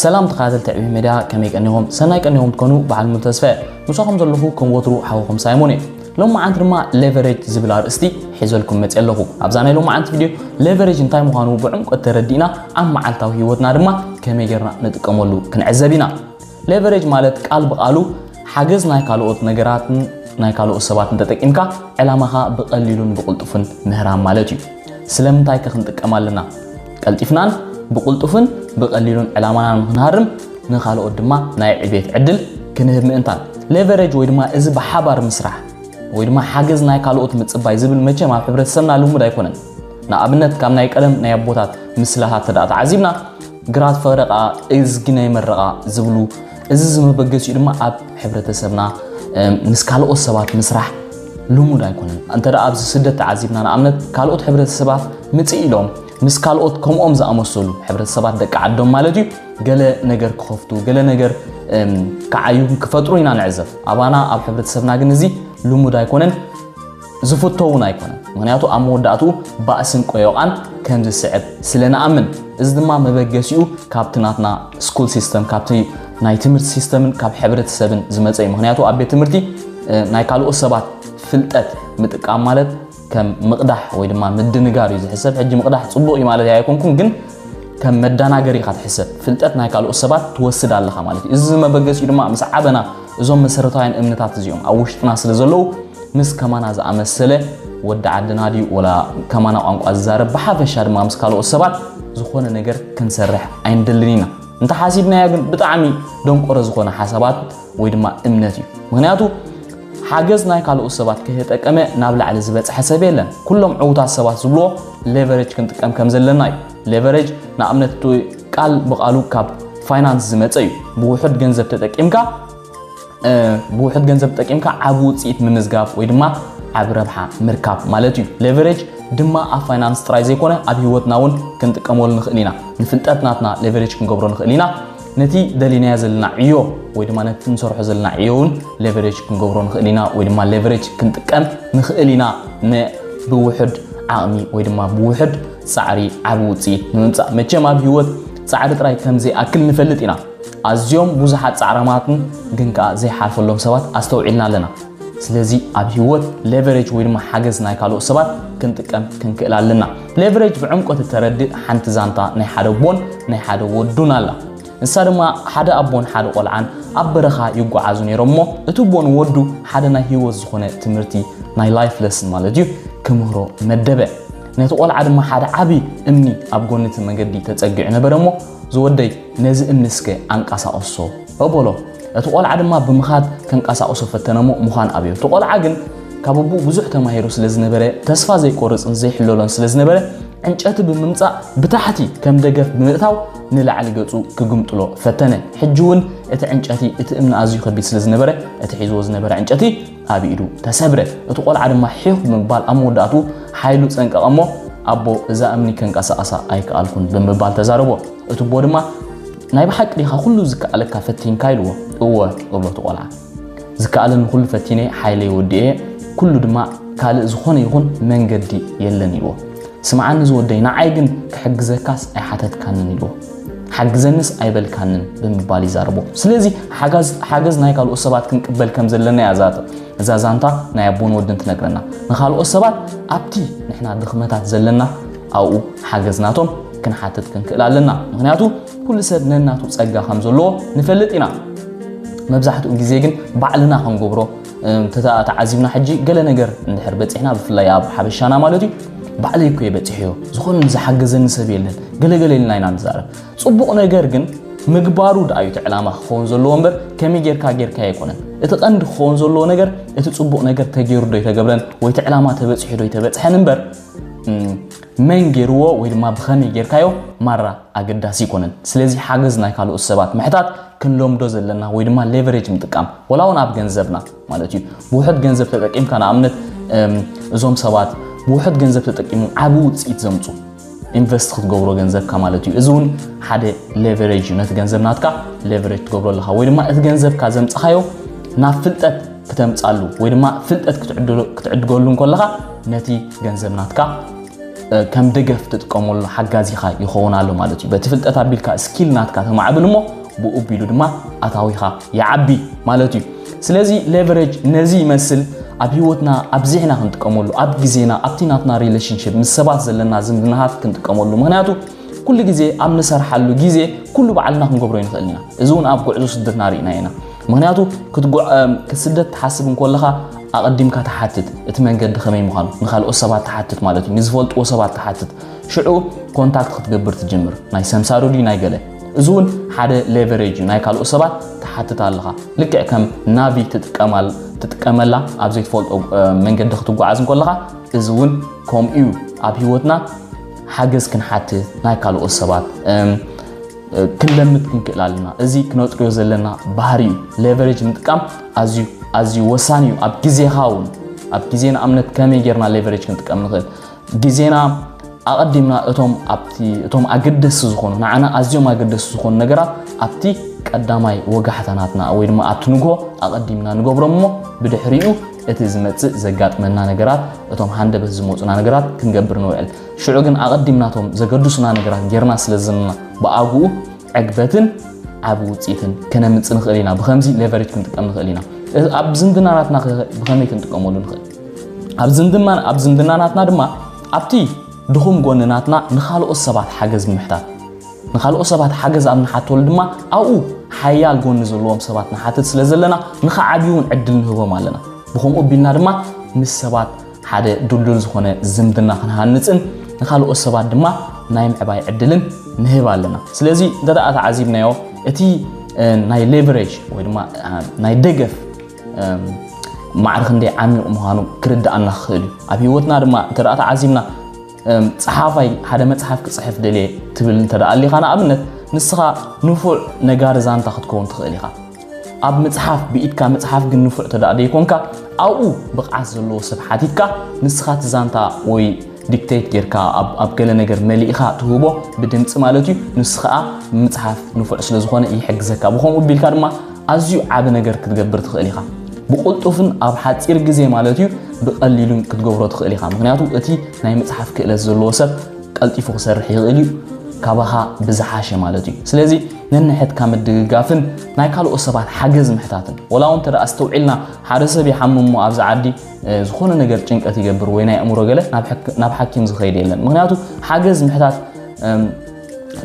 ሰላም ተኸታተልቲ ዕብይ ሜድያ ከመይ ቀኒኹም ሰናይ ቀኒኹም ትኮኑ በዓል ሙሉ ተስፈ ምሳኹም ዘለኹ ከም ወትሩ ሓውኹም ሳይሞን እዩ ሎም መዓንቲ ድማ ሌቨሬጅ ዝብል ኣርእስቲ ሒዘልኩም መፅእ ኣለኹ ኣብዛ ናይ ሎም መዓንቲ ቪድዮ ሌቨሬጅ እንታይ ምዃኑ ብዕምቆት ተረዲእና ኣብ መዓልታዊ ሂወትና ድማ ከመይ ጌርና ንጥቀመሉ ክንዕዘብ ኢና ሌቨሬጅ ማለት ቃል ብቓሉ ሓገዝ ናይ ካልኦት ነገራትን ናይ ካልኦት ሰባትን ተጠቂምካ ዕላማኻ ብቐሊሉን ብቕልጡፍን ምህራም ማለት እዩ። ስለምንታይ ከ ክንጥቀም ኣለና? ቀልጢፍናን ብቕልጡፍን ብቐሊሉን ዕላማና ንክንሃርም ንካልኦት ድማ ናይ ዕቤት ዕድል ክንህብ ምእንታን። ሌቨሬጅ ወይ ድማ እዚ ብሓባር ምስራሕ ወይ ድማ ሓገዝ ናይ ካልኦት ምጽባይ ዝብል መቸም ኣብ ሕብረተሰብና ልሙድ ኣይኮነን። ንኣብነት ካብ ናይ ቀደም ናይ ኣቦታት ምስላታት ተደኣ ተዓዚብና ግራት ፍቕሪ ከኣ እዝጊ ናይ መረቓ ዝብሉ እዚ ዝመበገሲኡ ድማ ኣብ ሕብረተሰብና ምስ ካልኦት ሰባት ምስራሕ ልሙድ ኣይኮነን እንተ ኣብዚ ስደት ተዓዚብና ንኣብነት ካልኦት ሕብረተሰባት ምፅእ ኢሎም ምስ ካልኦት ከምኦም ዝኣመሰሉ ሕብረተሰባት ደቂ ዓዶም ማለት እዩ ገለ ነገር ክኸፍቱ ገለ ነገር ክዓዩ ክፈጥሩ ኢና ንዕዘብ ኣባና ኣብ ሕብረተሰብና ግን እዚ ልሙድ ኣይኮነን ዝፍቶ እውን ኣይኮነን። ምኽንያቱ ኣብ መወዳእትኡ ባእስን ቆዮቛን ከም ዝስዕብ ስለ ንኣምን። እዚ ድማ መበገሲኡ ካብቲ ናትና ስኩል ሲስተም፣ ካብቲ ናይ ትምህርቲ ሲስተምን ካብ ሕብረተሰብን ዝመጸ እዩ። ምኽንያቱ ኣብ ቤት ትምህርቲ ናይ ካልኦት ሰባት ፍልጠት ምጥቃም ማለት ከም ምቕዳሕ ወይ ድማ ምድንጋር እዩ ዝሕሰብ። ሕጂ ምቕዳሕ ጽቡቕ እዩ ማለት ኣይኮንኩን፣ ግን ከም መዳናገሪ ኢኻ ትሕሰብ። ፍልጠት ናይ ካልኦት ሰባት ትወስድ ኣለኻ ማለት እዩ። እዚ መበገሲኡ ድማ ምስ ዓበና እዞም መሰረታውያን እምነታት እዚኦም ኣብ ውሽጥና ስለ ዘለዉ ምስ ከማና ዝኣመሰለ ወዲ ዓድና ድዩ ወላ ከማና ቋንቋ ዝዛረብ ብሓፈሻ ድማ ምስ ካልኦት ሰባት ዝኾነ ነገር ክንሰርሕ ኣይንደልን ኢና እንተሓሲብናዮ ግን ብጣዕሚ ደንቆሮ ዝኾነ ሓሳባት ወይ ድማ እምነት እዩ ምክንያቱ ሓገዝ ናይ ካልኦት ሰባት ከየጠቀመ ናብ ላዕሊ ዝበፅሐ ሰብ የለን ኩሎም ዕውታት ሰባት ዝብልዎ ሌቨሬጅ ክንጥቀም ከም ዘለና እዩ ሌቨሬጅ ንኣብነት ቃል ብቓሉ ካብ ፋይናንስ ዝመፀ እዩ። ብውሑድ ገንዘብ ተጠቂምካ ብውሑድ ገንዘብ ተጠቂምካ ዓብ ውፅኢት ምምዝጋብ ወይ ድማ ዓብ ረብሓ ምርካብ ማለት እዩ። ሌቨሬጅ ድማ ኣብ ፋይናንስ ጥራይ ዘይኮነ ኣብ ህይወትና እውን ክንጥቀመሉ ንኽእል ኢና። ንፍልጠት ናትና ሌቨሬጅ ክንገብሮ ንኽእል ኢና። ነቲ ደሊናዮ ዘለና ዕዮ ወይ ድማ ነቲ ንሰርሖ ዘለና ዕዮ እውን ሌቨሬጅ ክንገብሮ ንኽእል ኢና ወይ ድማ ሌቨሬጅ ክንጥቀም ንኽእል ኢና ብውሑድ ዓቕሚ ወይ ድማ ብውሑድ ፃዕሪ ዓቢ ውፅኢት ንምምፃእ መቸም ኣብ ህይወት ፃዕሪ ጥራይ ከምዘይኣክል ንፈልጥ ኢና። ኣዝዮም ብዙሓት ፃዕራማትን ግን ከዓ ዘይሓልፈሎም ሰባት ኣስተውዒልና ኣለና። ስለዚ ኣብ ህይወት ሌቨሬጅ ወይ ድማ ሓገዝ ናይ ካልኦት ሰባት ክንጥቀም ክንክእል ኣለና። ሌቨሬጅ ብዕምቆት እተረድእ ሓንቲ ዛንታ ናይ ሓደ ኣቦን ናይ ሓደ ወዱን ኣላ። ንሳ ድማ ሓደ ኣቦን ሓደ ቆልዓን ኣብ በረኻ ይጓዓዙ ነይሮም እሞ እቲ ኣቦ ንወዱ ሓደ ናይ ህይወት ዝኾነ ትምህርቲ ናይ ላይፍ ለስን ማለት እዩ ክምህሮ መደበ። ነቲ ቆልዓ ድማ ሓደ ዓቢ እምኒ ኣብ ጎኒ እቲ መንገዲ ተጸጊዑ ነበረ እሞ ዝወደይ ነዚ እምኒ እስከ ኣንቀሳቕሶ በሎ። እቲ ቆልዓ ድማ ብምኻድ ከንቀሳቕሶ ፈተነ እሞ ምዃን ኣብዮ። እቲ ቆልዓ ግን ካብ ኣቦኡ ብዙሕ ተማሂሩ ስለ ዝነበረ ተስፋ ዘይቆርጽን ዘይሕለሎን ስለ ዝነበረ ዕንጨቲ ብምምጻእ ብታሕቲ ከም ደገፍ ብምእታው ንላዕሊ ገጹ ክግምጥሎ ፈተነ። ሕጂ እውን እቲ ዕንጨቲ እቲ እምኒ ኣዝዩ ከቢድ ስለ ዝነበረ እቲ ሒዝዎ ዝነበረ ዕንጨቲ ኣብ ኢዱ ተሰብረ። እቲ ቆልዓ ድማ ሒኽ ብምባል ኣብ መወዳእትኡ ሓይሉ ጸንቀቐ እሞ ኣቦ እዛ እምኒ ከንቀሳቐሳ ኣይከኣልኩን ብምባል ተዛረቦ። እቲ ኣቦ ድማ ናይ ብሓቂ ዲኻ ኩሉ ዝከኣለካ ፈቲንካ ኢልዎ። እወ እብሎ እቲ ቆልዓ ዝከኣለኒ ኩሉ ፈቲነ ሓይለይ ወዲኤ ኩሉ ድማ ካልእ ዝኾነ ይኹን መንገዲ የለን ኢልዎ። ስምዓኒ ዝወደይ ንዓይ ግን ክሕግዘካስ ኣይሓተትካንን ኢልዎ። ሓግዘንስ ኣይበልካንን ብምባል ይዛረቦ። ስለዚ ሓገዝ ናይ ካልኦት ሰባት ክንቅበል ከም ዘለና እያ እዛ ዛንታ ናይ ኣቦን ወድን ትነግረና። ንካልኦት ሰባት ኣብቲ ንሕና ድኽመታት ዘለና ኣብኡ ሓገዝ ናቶም ክንሓትት ክንክእል ኣለና። ምክንያቱ ኩሉ ሰብ ነናቱ ጸጋ ከም ዘለዎ ንፈልጥ ኢና። መብዛሕትኡ ግዜ ግን ባዕልና ክንገብሮ እንተታ ተዓዚብና ሕጂ ገለ ነገር እንድሕር በጺሕና ብፍላይ ኣብ ሓበሻና ማለት እዩ ባዕለይ እኮ የበጺሕዮ ዝኾነ ንዝሓገዘኒ ሰብ የለን ገለገለ ኢልና ኢና ንዛረብ ጽቡቕ ነገር ግን ምግባሩ ድኣዩ እቲ ዕላማ ክኸውን ዘለዎ እምበር ከመይ ጌርካ ጌርካ ኣይኮነን እቲ ቀንዲ ክኸውን ዘለዎ ነገር እቲ ፅቡቕ ነገር ተገይሩ ዶ ይተገብረን ወይ እቲ ዕላማ ተበፅሑ ዶ ይተበፅሐን እምበር መን ገይርዎ ወይ ድማ ብኸመይ ጌርካዮ ማራ ኣገዳሲ ይኮነን ስለዚ ሓገዝ ናይ ካልኦት ሰባት ምሕታት ክንለምዶ ዘለና ወይ ድማ ሌቨሬጅ ምጥቃም ወላ እውን ኣብ ገንዘብና ማለት እዩ ብውሕድ ገንዘብ ተጠቂምካ ንኣብነት እዞም ሰባት ብውሕድ ገንዘብ ተጠቂሞም ዓብ ውፅኢት ዘምፁ ኢንቨስት ክትገብሮ ገንዘብካ ማለት እዩ እዚ እውን ሓደ ሌቨሬጅ እዩ ነቲ ገንዘብ ናትካ ሌቨሬጅ ትገብሮ ኣለካ ወይ ድማ እቲ ገንዘብካ ዘምፅኻዮ ናብ ፍልጠት ክተምፃሉ ወይ ድማ ፍልጠት ክትዕድገሉ እንከለካ ነቲ ገንዘብ ናትካ ከም ደገፍ ትጥቀመሉ ሓጋዚኻ ይኸውን ኣሎ ማለት እዩ በቲ ፍልጠት ኣቢልካ ስኪል ናትካ ተማዕብል እሞ ብኡ ቢሉ ድማ ኣታዊኻ ይዓቢ ማለት እዩ ስለዚ ሌቨሬጅ ነዚ ይመስል ኣብ ህይወትና ኣብዚሕና ክንጥቀመሉ ኣብ ግዜና ኣብቲ ናትና ሪሌሽንሽፕ ምስ ሰባት ዘለና ዝምድና ሃፍት ክንጥቀመሉ ምክንያቱ ኩሉ ግዜ ኣብ ንሰርሓሉ ግዜ ኩሉ በዓልና ክንገብሮ ይንኽእል ኢና እዚ እውን ኣብ ጉዕዞ ስደትና ርኢና ኢና ምክንያቱ ስደት ትሓስብ እንከለኻ ኣቐዲምካ ትሓትት፣ እቲ መንገዲ ከመይ ምዃኑ ንካልኦት ሰባት ትሓትት ማለት እዩ፣ ንዝፈልጥዎ ሰባት ትሓትት፣ ሽዑ ኮንታክት ክትገብር ትጅምር፣ ናይ ሰምሳሪ ድዩ ናይ ገለ፣ እዚ እውን ሓደ ሌቨሬጅ እዩ፣ ናይ ካልኦት ሰባት ትሓትት ኣለኻ፣ ልክዕ ከም ናቪ ትጥቀመላ ኣብ ዘይትፈልጦ መንገዲ ክትጓዓዝ እንከለኻ፣ እዚ እውን ከምኡ እዩ ኣብ ህይወትና ሓገዝ ክንሓትት ናይ ካልኦት ሰባት ክንለምድ ክንክእል ኣለና እዚ ክነጥርዮ ዘለና ባህሪ እዩ ሌቨሬጅ ምጥቃም ኣዝዩ ኣዝዩ ወሳኒ እዩ ኣብ ግዜኻ እውን ኣብ ግዜ ንኣብነት ከመይ ጌርና ሌቨሬጅ ክንጥቀም ንኽእል ግዜና ኣቐዲምና እቶም ኣብቲ እቶም ኣገደስቲ ዝኾኑ ንዓና ኣዝዮም ኣገደስቲ ዝኾኑ ነገራት ኣብቲ ቀዳማይ ወጋሕታናትና ወይ ድማ ኣብቲ ንግሆ ኣቐዲምና ንገብሮም እሞ ብድሕሪኡ እቲ ዝመፅእ ዘጋጥመና ነገራት እቶም ሃንደበት ዝመፁና ነገራት ክንገብር ንውዕል ሽዑ ግን ኣቐዲምና እቶም ዘገድሱና ነገራት ጌርና ስለ ዘለና ብኣግኡ ዕግበትን ዓቢ ውፅኢትን ከነምፅእ ንኽእል ኢና። ብከምዚ ሌቨሬጅ ክንጥቀም ንኽእል ኢና። ኣብ ዝምድናናትና ብከመይ ክንጥቀመሉ ንኽእል? ኣብ ዝምድናናትና ድማ ኣብቲ ድኹም ጎኒ ናትና ንካልኦት ሰባት ሓገዝ ምሕታት ንካልኦት ሰባት ሓገዝ ኣብ ንሓተሉ ድማ ኣብኡ ሓያል ጎኒ ዘለዎም ሰባት ንሓትት ስለ ዘለና ንክዓብዩ እውን ዕድል ንህቦም ኣለና። ብከምኡ ኣቢልና ድማ ምስ ሰባት ሓደ ድልዱል ዝኾነ ዝምድና ክንሃንጽን ንካልኦት ሰባት ድማ ናይ ምዕባይ ዕድልን ንህብ ኣለና ስለዚ እንተ ተዓዚብናዮ እቲ ናይ ሌቨሬጅ ወይ ድማ ናይ ደገፍ ማዕሪ ክንደይ ዓሚቕ ምዃኑ ክርድኣና ክኽእል እዩ ኣብ ሂወትና ድማ እንተ ተዓዚብና ፀሓፋይ ሓደ መፅሓፍ ክፅሕፍ ደልየ ትብል እንተ ኣሊኻ ንኣብነት ንስኻ ንፉዕ ነጋሪ ዛንታ ክትከውን ትኽእል ኢኻ ኣብ ምጽሓፍ ብኢድካ ምጽሓፍ ግን ንፉዕ ተደኣ ደይኮንካ ኣብኡ ብቕዓት ዘለዎ ሰብ ሓቲትካ ንስኻ እቲ ዛንታ ወይ ዲክቴት ጌርካ ኣብ ገለ ነገር መሊእኻ ትህቦ ብድምፂ ማለት እዩ ንሱ ከዓ ምፅሓፍ ንፉዕ ስለ ዝኾነ ይሕግዘካ ብከምኡ ቢልካ ድማ ኣዝዩ ዓብ ነገር ክትገብር ትኽእል ኢኻ ብቕልጡፍን ኣብ ሓፂር ግዜ ማለት እዩ ብቐሊሉን ክትገብሮ ትኽእል ኢኻ ምክንያቱ እቲ ናይ ምፅሓፍ ክእለት ዘለዎ ሰብ ቀልጢፉ ክሰርሕ ይኽእል እዩ፣ ካባኻ ብዝሓሸ ማለት እዩ። ስለዚ ነንሕድካ ምድግጋፍን ናይ ካልኦት ሰባት ሓገዝ ምሕታትን። ወላ እውን እንተ ኣስተውዒልና ሓደ ሰብ ይሓምም እሞ ኣብዚ ዓዲ ዝኾነ ነገር ጭንቀት ይገብር ወይ ናይ ኣእምሮ ገለ ናብ ሓኪም ዝኸይድ የለን። ምክንያቱ ሓገዝ ምሕታት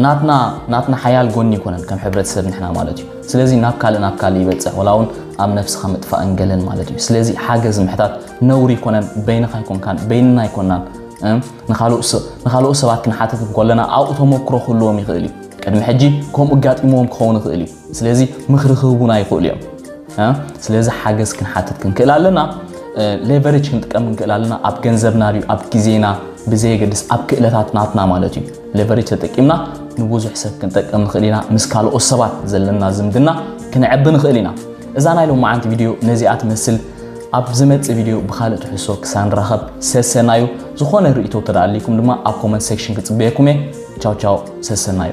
ናትና ናትና ሓያል ጎኒ ይኮነን ከም ሕብረተሰብ ንሕና ማለት እዩ ስለዚ ናብ ካልእ ናብ ካልእ ይበፅሕ ወላ እውን ኣብ ነፍስኻ ምጥፋእን ገለን ማለት እዩ ስለዚ ሓገዝ ምሕታት ነውሪ ይኮነን በይንኻ ይኮንካን በይንና ይኮናን ንኻልኦት ሰባት ክንሓትት እንከለና ኣብኡ ተመክሮ ክህልዎም ይኽእል እዩ። ቅድሚ ሕጂ ከምኡ ኣጋጢምዎም ክኸውን ይኽእል እዩ። ስለዚ ምኽሪ ክህቡና ይኽእሉ እዮም። ስለዚ ሓገዝ ክንሓትት ክንክእል ኣለና። ሌቨሬጅ ክንጥቀም ክንክእል ኣለና። ኣብ ገንዘብና ድዩ ኣብ ግዜና ብዘየገድስ ኣብ ክእለታት ናትና ማለት እዩ። ሌቨሬጅ ተጠቂምና ንብዙሕ ሰብ ክንጠቅም ንኽእል ኢና። ምስ ካልኦት ሰባት ዘለና ዝምድና ክንዕቢ ንኽእል ኢና። እዛ ናይ ሎማዓንቲ ቪድዮ ነዚኣ ትመስል። ኣብ ዝመጽእ ቪድዮ ብኻልእ ትሕዝቶ ክሳብ ንራኸብ ሰሰናዩ። ዝኾነ ርእይቶ እንተ ኣልይኩም ድማ ኣብ ኮመንት ሴክሽን ክጽበየኩም እየ። ቻው ቻው፣ ሰሰናዩ።